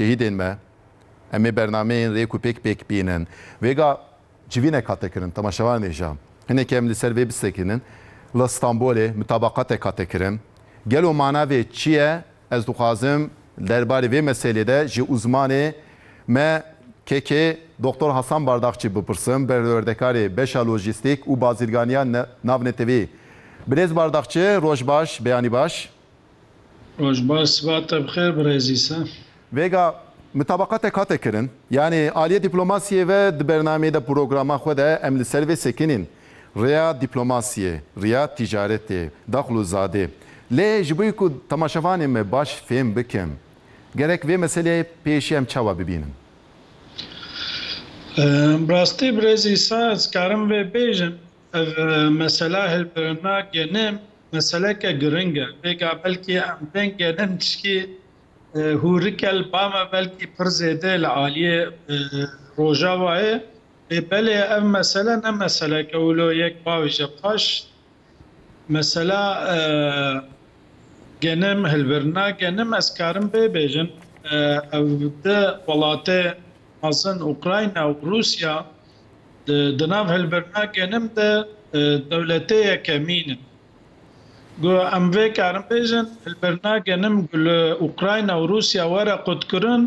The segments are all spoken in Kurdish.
Şehîdên me, em ê bernameyên rêk û pêk pêk bînin. Vêga civînek hate kirin, temaşevan ê jam. Hinekê em li ser vê bisekînin. Li Stenbolê mutabaqatek hate kirin. Gelo mana vê çi ye? Ez dixwazim der barê vê meselê de ji uzmanê me KK Doktor Hasan Bardakçî bipirsim, perwerdekarê beşa lojîstîk û bazirganiya navnetewî. Birêz Bardakçi, roj baş, beyanî baş. Roj baş siba te bixêr birêzî se. Vêga mitabaqatek hate kirin. Yanî aliyê dîplomasiyê ve di bernameyê de programa xwe de em li ser vê sekinîn. Rêya dîplomasiyê, rêya tîcaretê, daxil û zadê. Lê ji bo ku temaşevanên me baş fêm bikin gerek vê meseleyê pêşî em çawa bibînin? Bi rastî birêzî se ez karim vê bêjim. Ev mesela hilbirinna genim. meseleke giring e. Pêka belkî em tên genin tişkî hûrikel ba me belkî pir zêde li aliyê Rojavayê. Lê belê ev mesele ne meseleke wilo yek bavêje paş. Mesela genim, hilbirina genim ez karim vê bêjin. Ev di welatê mezin Ukrayna û Rûsya, Di nav hilbirina genim de dewletêyeke mîn e. Guya em vê karin bêjin, hilbirina genim ku li Ukrayna û Rûsya were qutkirin,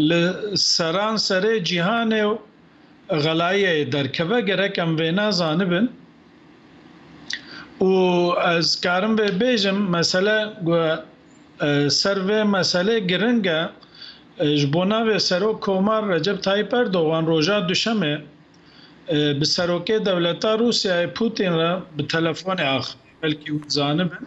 li seranserê cîhanê xelayiyeyê derkeve, gerek em vê nezanibin. Û ez karim vê bêjim, mesele guya Ser vê meselê giring e, ji bo navê Serok Komar Recep Tayyîp Erdogan roja Duşemê bi Serokê Dewleta Rûsyayê Pûtîn re bi telefonê axivî. Belkî hûn zanibin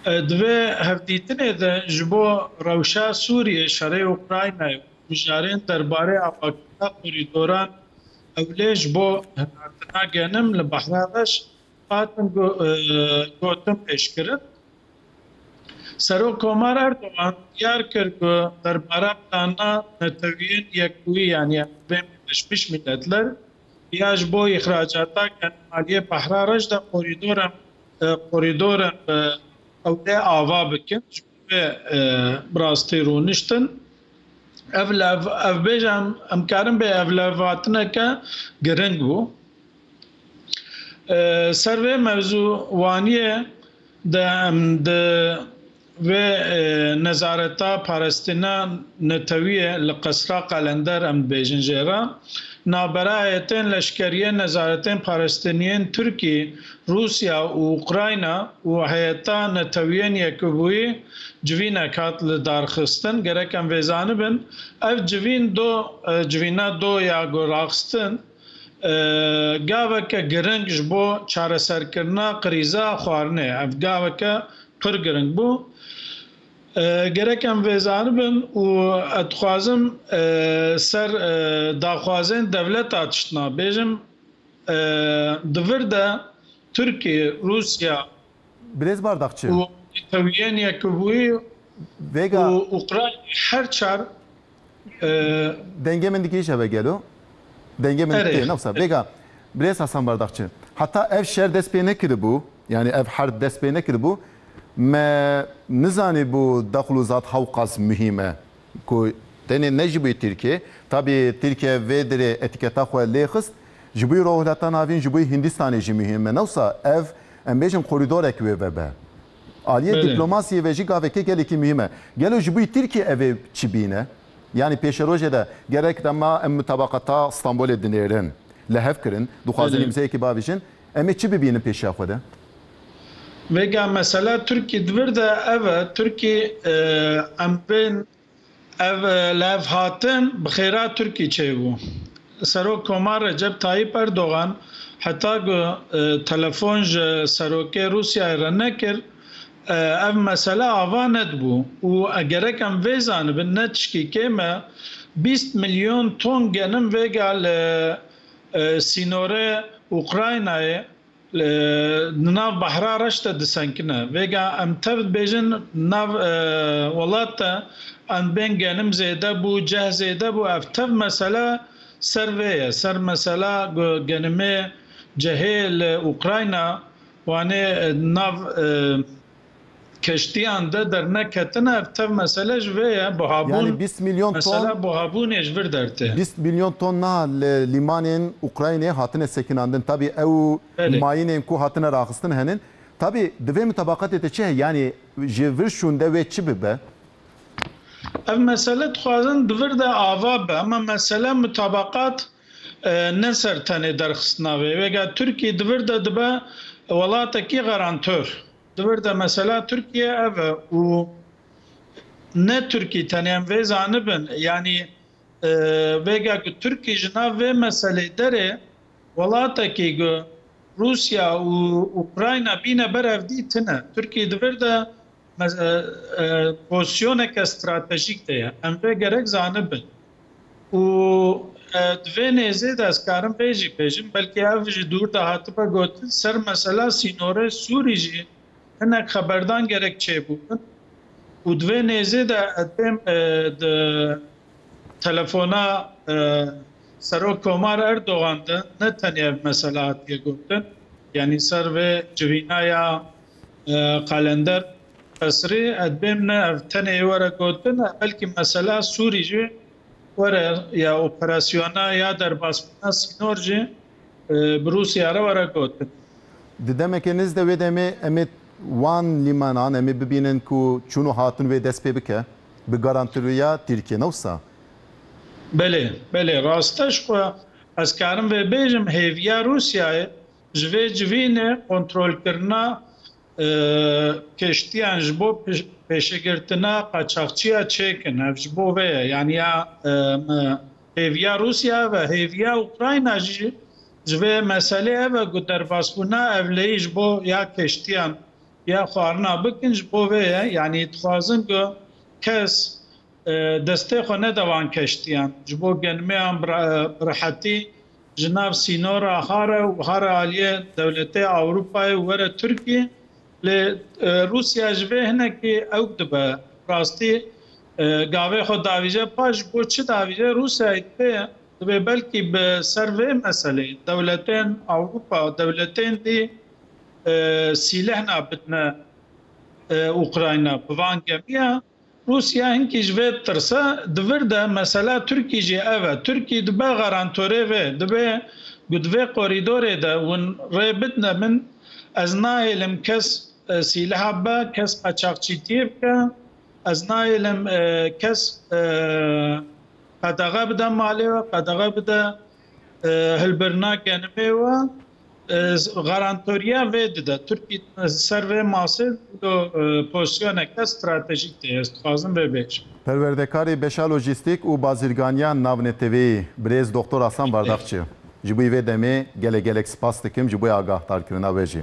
di vê hevdîtinê de ji bo rewşa Sûriyê, şerê Ukraynayê û mijarên derbarê avakirina korîdoran ewlê ji bo hinartina genim li Behra Reş Hatim Gotim pêşkirib. Serok Komar Erdogan diyar kir ku derbara plana Neteweyên Yekbûyî yanî Emirên Birleşmiş Mîletler ya ji bo îxracata genûmaliyê Bahra Reş de korîdoran korîdoran bi ewlê ava bikin ji bo vê bi rastî rûniştin. Ev lev ev bêje em em karin bê ev levhatineke giring bû. Ser vê mevzû wanîyê de em di vê nezareta parastina netewîyê li Qesra Qalender em dibêjin jê re navberaye tên leşkerîyê nezaretên parastinîyên Tirkî, Rûsya û Ukrayna û heyeta netewîyên Yekbûyî civînek hat li darxistin. Gerek em vê zanibin ev civîn do civîna do ya ku raxistin. Gaveke giring ji bo çareserkirina krîza xwarinê ye. Ev gaveke pir giring bû. Gerek em vê zanibin û ez dixwazim ser daxwazên dewleta tiştna bêjim. Di vir de Tirkiye, Rûsya û Netewiyên Yekbûyî û Ukraynayê her çar. Dengê min dikirî şeve gelo. Dengê min tê newsa. Vêga Birêz Hasan Bardakçi. Heta ev şer dest pê nekiribû, yanî ev herd dest pê nekiribû, me nizanîbû daxlûzat hewqas muhîm e. Ku tenê ne ji bo Tirkiyeyê, tabî Tirkiye vê derê etîketa xwe lê xist, ji bo Rojhilata Navîn, ji bo Hîndîstanê jî muhîm e. Newsa ev, em bêjin korîdorek wê vebe. Aliyê dîplomasiyê ve jî gaveke gelekî muhîm e. Gelo ji bo Tirkiyê ev ê çi bîne? Yanî pêşerojê de gerek dema em mutabaqata Stenbolê dinêrin li hev kirin, dixwazin îmzeyekî bavêjin, em ê çi bibînin pêşiya xwe de? Vêga mesela Tirkiyê di vir de ev e, Tirkiyê em bên. Ev levhatin bi xêra Tirkî çêbû. Serok Komar Recep Tayyîp Erdogan heta ku telefon ji Serokê Rûsyayê re nekir, ev mesele ava nedibû û gerek em vê zanibin ne tiştî kêm e, bîst milyon ton genim vêga li sînorê Ukraynayê, Li nav Bahra Reş de disenkine. Vêga em tev dibêjin nav welat de endbên genim zêde bû, ceh zêde bû. Ev tev mesele ser vê ye. Ser mesela genimê, cehê li Ukrayna wanê nav keştiyan de derneketine ev tev mesele ji vê ye buhabûn Yani bîst milyon ton mesela buhabûnê ji vir dertê. Bîst milyon ton niha li lîmanên Ukraynê hatine sekinandin tabî ew Belê. mayînên ku hatine raxistin henin. Tabî di vê mitabaqetê de çi heye yanî ji vir şûnde wê çi bibe? Ev mesele dixwazin di vir de ava bibe. Ema mesele mitabaqat Ne ser tenê derxistina vê vega Tirkiyê di vir de dibe welatekî garantör. Di vir de mesela Tirkiye ev e û ne Tirkî tenê em vê zanibin yanî vega ku Tirkî ji nav vê meselê derê welatekî ku Rûsya û Ukrayna bîne ber ev dî tune. Tirkî di vir de Pozisyoneke stratejîk de ye. Em vê gerek zanibin û di vê nêzê de ez karim vê jî bêjim, belkî ev ji dûr de hatibe gotin, ser mesela sînorê Sûrî jî hinek xeberdan gerek çêbûbin û di vê nêzê de ez dêm di telefona Serok Komar Erdogan de ne tenê ev mesela hatiye gotin, yanî ser vê civîna ya Qalender Qesrî, Ez bêm ne ev tenê were gotin e belkî mesela Sûrî jî were ya operasyona ya derbasbûna sînor jî bi Rûsya re were gotin. Di demeke niz de wê demê em ê wan lîmanan em ê bibînin ku çûn û hatin wê dest pê bike bi garantiruya Tirkiyê ne wisa? Belê, belê rast e ji xwe ez karim vê bêjim hêviya Rûsyayê Ji vê civînê kontrolkirina keştiyan ji bo pêşegirtina qaçaxçiya çêkin. Ev ji bo vê ye. Yanî ya hêviya Rûsya ev e. Hêviya Ukrayna jî ji vê meselê ev e ku derbasbûna evleyî ji bo ya keştiyan ya xwarina bikin ji bo vê ye. Yanî dixwazin ku kes Destê xwe neda wan keştiyan. Ji bo genmeyan bi rehetî ji nav sînora Hare û Hare aliyê dewletê Ewropayê û were Tirkiyê. Lê Rûsya ji vê hinekî ewk dibe. Rastî gavê xwe davîje pa ji bo çi davîje Rûsyayê divê divê belkî bi ser vê meselê dewletên Ewropa dewletên dî sîlehna bidne Ukrayna bi van gemiya. Rûsya hinkî ji vê tirse di vir de mesela Tirkî jî ev e. Tirkî dibe garantorê vê, dibe ku di vê korîdorê de hûn rê bidine min, ez nahêlim kes sîleha bibe, kes qaçaxçîtiyê bike, ez nahêlim kes qedexe bide malê we, qedexe bide hilbirina genimê we. Garantoriya vê dide Tirkî ser vê masê wilo pozisyoneke stratejîk tê, ez dixwazim vê bêjim. Perwerdekarê Beşa Lojîstîk û Bazirganiyan Navneteweyî Birêz Doxtor Asan Bardakçi, Ji bo vê demê gelek gelek spas dikim ji bo agahdarkirina we jî.